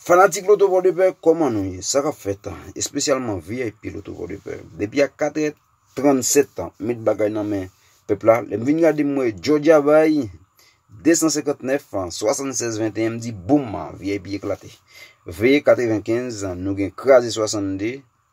Fanatik Loto Pòdepè, kòman nou ye? Sa kap fèt an? Espesyalman VIP Loto Pòdepè. Depi a 4 è 37 tan, met bagay nan men pèp la. Lè m vin gade m wè Jòdja bay 259 an, 76 21 m di boum an, VIP eklate. Veye 95 an, nou gen kraze 62,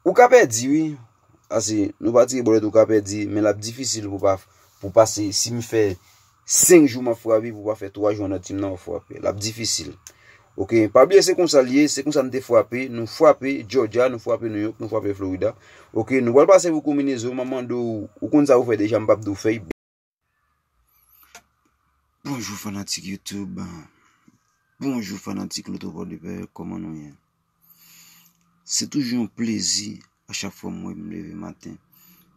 Ou ka pèdi wi, ase nou pa tire bòlèt ou ka pèdi men lap difisil pou pa pou pase si m fè 5 jou map frape pou pa fè 3 jou anndan tim nan wap frape lap difisil ok pa bliye se konsa liye se konsa nou te frape nou frape jòja nou frape nou yok nou frape florida ok nou pral pase pou kominezo map mande ou ou konn sa ou fè deja m pap di w fè Bonjou fanatik YouTube, bonjou fanatik Lotopò de Pè, kòman nou ye? Se toujou yon plezi a chak fwa mwen mwen leve maten,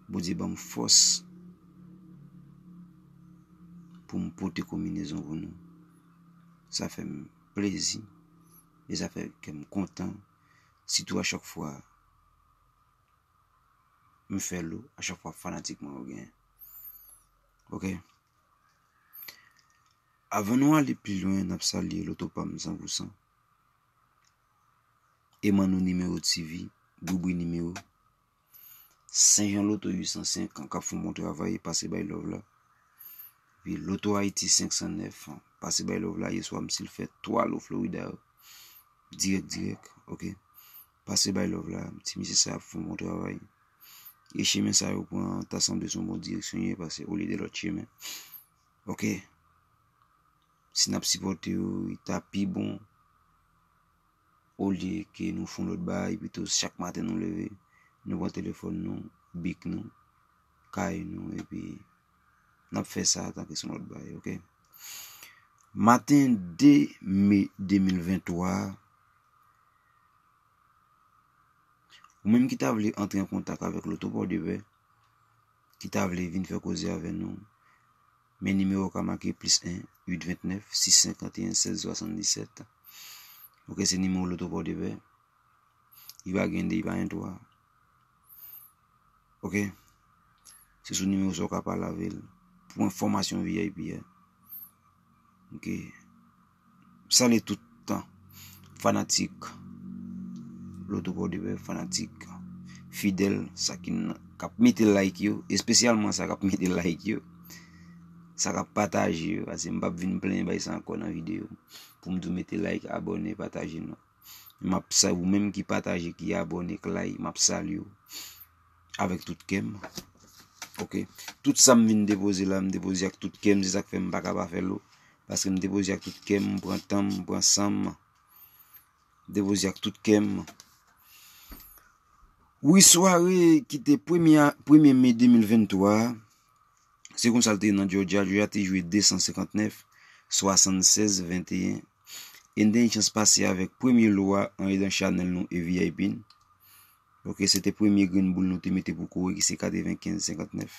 Bondye banm fòs pou m pote konminezon pou nou. Sa fè m plezi, e sa fè kè m kontan, sitou a chak fwa m fè l ou, a chak fwa fanatik mwen ou genyen. Ok. Avan nou ale pi lwen nap salye loto pa m san pou san. E man nou nimewo TV, boubou nimewo. Senjan loto 805 an kap foun moun travay pase bay love la. Vi loto Haiti 509 an pase bay love la ye swa m sil fè 3 lo Florida yo. Direk direk ok. Pase bay love la ti mesye sa ap fon bon travay e chemen sa yo pran ta sanble son bon direksyon ye pase olye de lòt chemen ok si nap sipòte yo ta pi bon olye ke nou fon lòt bay pito chak maten nou leve nou pran telefòn nou bik nou kay nou epi nap fè sa ta ke son lòt bay ok maten 2 me 2023 Ou menm ki ta vle antre an kontak avèk Loto Pòdepè, ki ta vle vin fè koze avè nou, men nimewo w ka make plis 1, 8, 29, 6, 51, 16, 77. Ok, se nimewo Loto Pòdepè. I pa gen 2, i pa gen 3. Ok, se sou nimewo sa w ka pale avè l pou enfòmasyon VIP a. Ok. Salye tout fanatik Loto Pòdepè, fanatik fidèl sa ki nan kap mete like yo, espesyalman sa kap mete like yo, sa kap pataje yo, pase m pap vin plenyen bay sa ankò nan videyo, pou m di w mete like, abòne, pataje nan. Map sa ou menm ki pataje ki abone k lay map salye ou avèk tout kèm ok tout sa m vin depoze la m depoze ak tout kèm se sak fè m pa ka pa fè l paske m depoze ak tout kèm m pran tan m m pran san m depoze ak tout kèm wi sware ki te premye premye me 2023 se konsa l te nan jòjè a jòjè a te jwe 259 76 21 N te gen chans pase avèk premye lo a an edan chanèl nou e vip n. Ok, se te premye grenn boul nou te mete pou kore ki se 95, 59.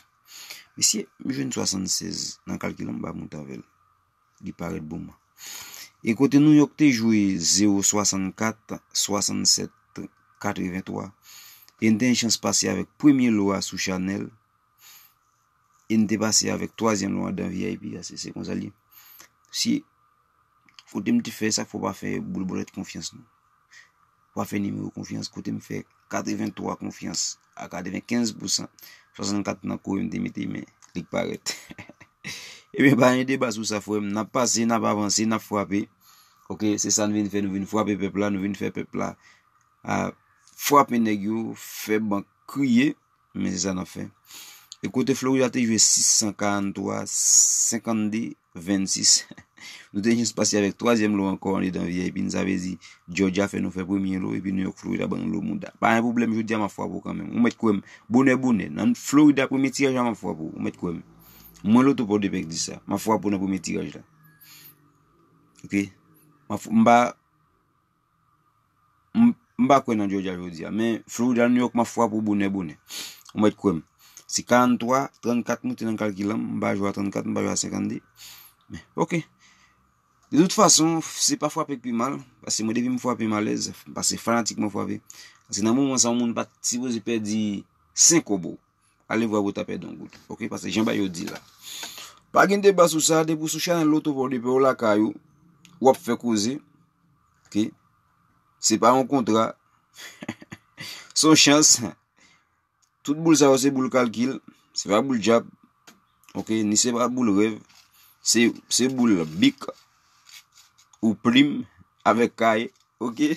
Mesye, m jwenn 76 nan kalkil an m ba moute avè l. Li parèt bon man. E kote New York te jwe 0, 64, 67, 83. E n te gen chans pase avèk premye lo a sou chanèl. E n te pase avèk twazyèm lwa dan vip a, se konsa l ye. Si kote m te fè sa k fè w pa fè boul bòlèt konfyans non. W pa fè nimewo konfyans kote m fè katreventwa konfyans a katrevenkenz pousan, swasannkat nan kore m te mete men li k parèt. Ebyen pa gen deba sou sa frè m, n ap pase, n ap avanse, n ap frape ok, se sa n vin fè, nou vin frape pèp la, nou vin fè pèp la frape nèg yo, fè bank kriye. Men se sa n ap fè. E kote Florida te jwe 643, 52, 26. Nou te jis pase avèk twazyèm lo ankò andedan vip nou. Sa vle di Georgia fè nou fè premye lo epi New York Florida ban nou lo mouda. Pa gen pwoblèm jodi a m ap frape w kanmenm. Ou mèt kwè m. Bonè bonè. Nan Florida premye tiraj la m ap frape w. Ou mèt kwè m. Mwen loto Pòdepè k di sa. M ap frape w nan premye tiraj la. Ok. M pa. M pa kwè nan Georgia jodi a, men Florida, New York m ap fwa pou bonè bonè. Ou mèt kwè m. Se 43, 34 moute nan kalkilan m, m pa jwe a 34, m pa jwe a 52. Men, ok. De tout fason, se pa fwape k pi mal, pase mwen depi m fwape m alèz, pase fanatik mwen fwape. Se nan moman sa yon moun pa t sipoze pèdi 5 kobo. Ale vwa pou ta pèdi yon goud ok pase jan bayo di la pa gen deba sou sa depi sou chanèl loto paw depi ou lakay ou wap fè koze ok se pa yon kontra son chans tout boul sa yo se boul kalkil se pa boul djab ok ni se pa boul rèv se boul bik ou plim avèk kay ok.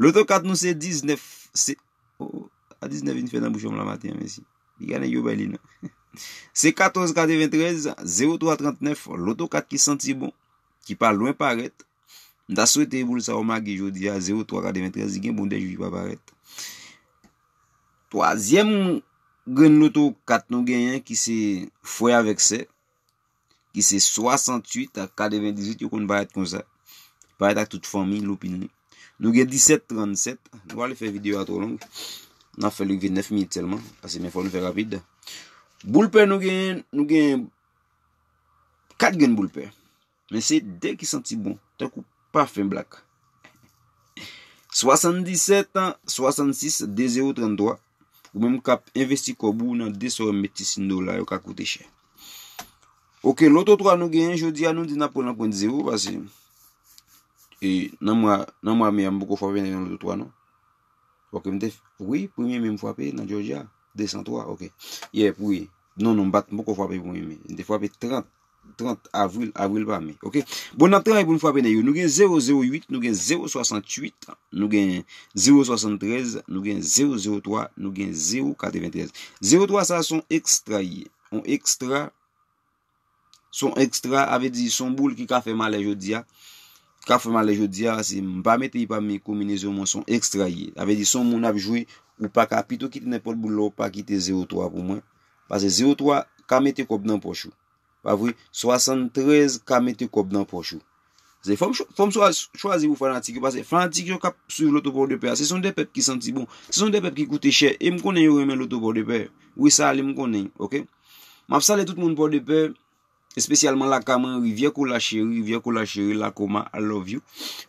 Loto kat nou se 19 se oh a 19 vin fè nan bouchonm la maten an mesi li gen nèg yo bay li nan se 14 93 03 39 loto kat ki santi bon ki pa lwen parèt m ta swete boul sa yo mage jodi a 03 93 li gen bon 2 jou li pa parèt twazyèm grenn loto kat nou genyen ki se frè avèk sè ki se 68 ak 98 yo konn parèt konsa parèt ak tout fanmi loupin li nou gen 17 37 nou ale fè video a tro long nan fè li gen 9 minit selman ase men fò nou fè rapid boulpè nou gen nou gen 4 gen boulpè Men se de ki santi bon tankou pafen blak. 77 66 20 33 Ou menm kap envesti kòb ou nan de sewòm meti sindo la yo ka koute chè. Ok, loto 3 nou genyen jodi a nou di nan pran nan pwent zero pase. E nan mwa nan mwa me a m poko fwape nan yon loto 3 non. Ok m te fè. Wi, premye me m fwape nan Georgia 203 ok. Yè pou ye. Non non m pat m poko fwape premye me. M te fwape 30 30 avril, avril pa me. Ok. Bon, n ap travay pou n frape nèg yo. Nou gen 008, nou gen 068, nou gen 073, nou gen 003, nou gen 093. 03 sa son ekstra ye. On ekstra, son ekstra ave di son boul ki ka fè malè jodi a. Ka fè malè jodi a, se m pa mete y pa mi kominezon mwen son ekstra ye. Ave di son moun ap jwe, ou pa ka pito kite nenpòt boul la ou pa kite 03 pou mwen. Pase zero twa ka mete kòb nan pòch ou. Pa vre? Swasann trèz ka mete kòb nan pòch ou. Se fòm fòm swa chwazi pou fanatik yo pase fanatik yo kap swiv loto pò de pè a se son de pèp ki santi bon. Se son de pèp ki koute chè. E m konnen yo renmen loto pò de pè. Wi sa li m konnen. Ok. Map salye tout moun pò de pè. Espesyalman lakay mwen rivyè kola cheri rivyè kola cheri lakoma I love you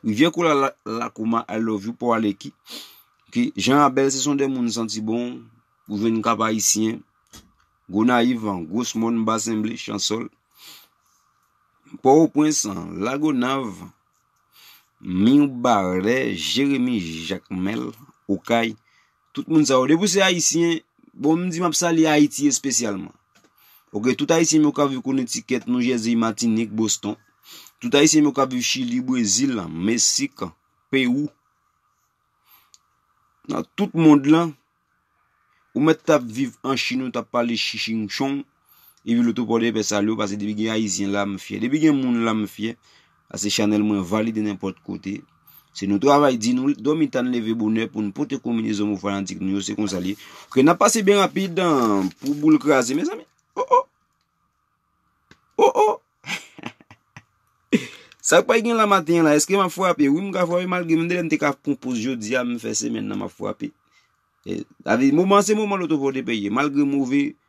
rivyè kola lakoma I love you paw aleki ok jan a bèl se son de moun santi bon ou jwenn kap ayisyen gonayiv an gros mòn basen ble chansòl pò o pwens an lagonav mirbarè jeremi jakmèl okay Tout moun sa yo depi w se ayisyen bon m di map salye ayiti espesyalman ok tout ayisyen m yo kap viv konetikèt new jèzey matinik boston tout ayisyen m yo kap viv chili brezil la mesik pewou nan tout mond lan ou mèt tap viv an chine ou tap pale chiching chong Epi loto pòde pè salye ou pase depi gen ayisyen la m fyè depi gen moun la m fyè pase chanèl mwen valide nenpòt kote se nou travay di nou dòmi ta n leve bonè pou n pote konminezon mou fanatik nou yo se konsa li ok nan pase byen rapid pou boul kraze mezanmi oh oh oh oh sak pral gen la maten an la eske m ap frape wi m ka frape malgre m tande m te ka konpoz jodi a m fè semèn nan m ap frape moman se moman loto pòde pè ye malgre move.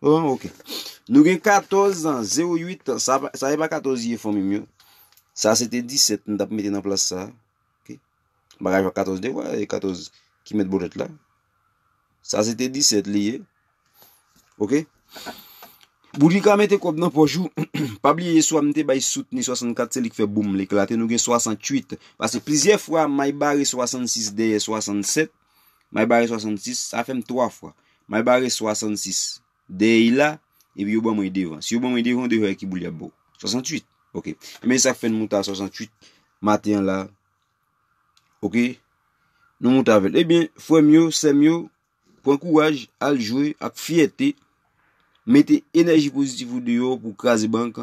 Bon ok Nou gen 14 ans 08 ans Sa se pa 14 ye fanmi m yo Sa se te 17 m tap mete nan plas sa Ok Bagay jwa 14 de wè 14 ki met bolet la Sa se te 17 li ye Ok Boudrika mete kob nan poch ou Pa bliye swa m te bay soutni 64 se li k fè boom l eklate Nou gen 68 Pase plizyè fwa may bare 66 dèyè 67 May bare 66, sa fè m 3 fwa. May bare 66, dèyè y la, epi yo ban mwen y devan. Si yo ban mwen y devan, yo dwe wè ki boul y ap ba w. 68. Ok. Ebyen, se sa k fè n moute a 68, maten an la a. Ok. Nou moute avè l. Ebyen, frè m yo, sè m yo, pran kouraj, al jwe ak fyète, mete enèji pozitif ou deyò pou w kraze bank,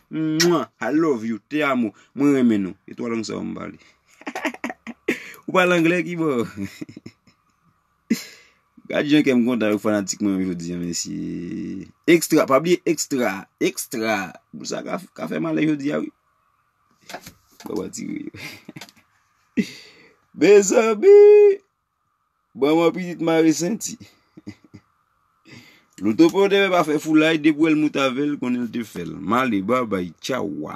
Mwah I love you te amo mwen renmen nou e 3 lang sa yo m pale ou pale anglè kibò gad jan kèm kontan avèk fanatik mwen yo jodi an mesye extra pa bliye extra extra boul sa ka fèm ale jodi a wi baba ti riir mezanmi. Ban mwen pitit mare senti. Loutope ou te fè pa fè foulay depi ou wèl moute avèl konnen l te fèl. Male babay tchaw wa.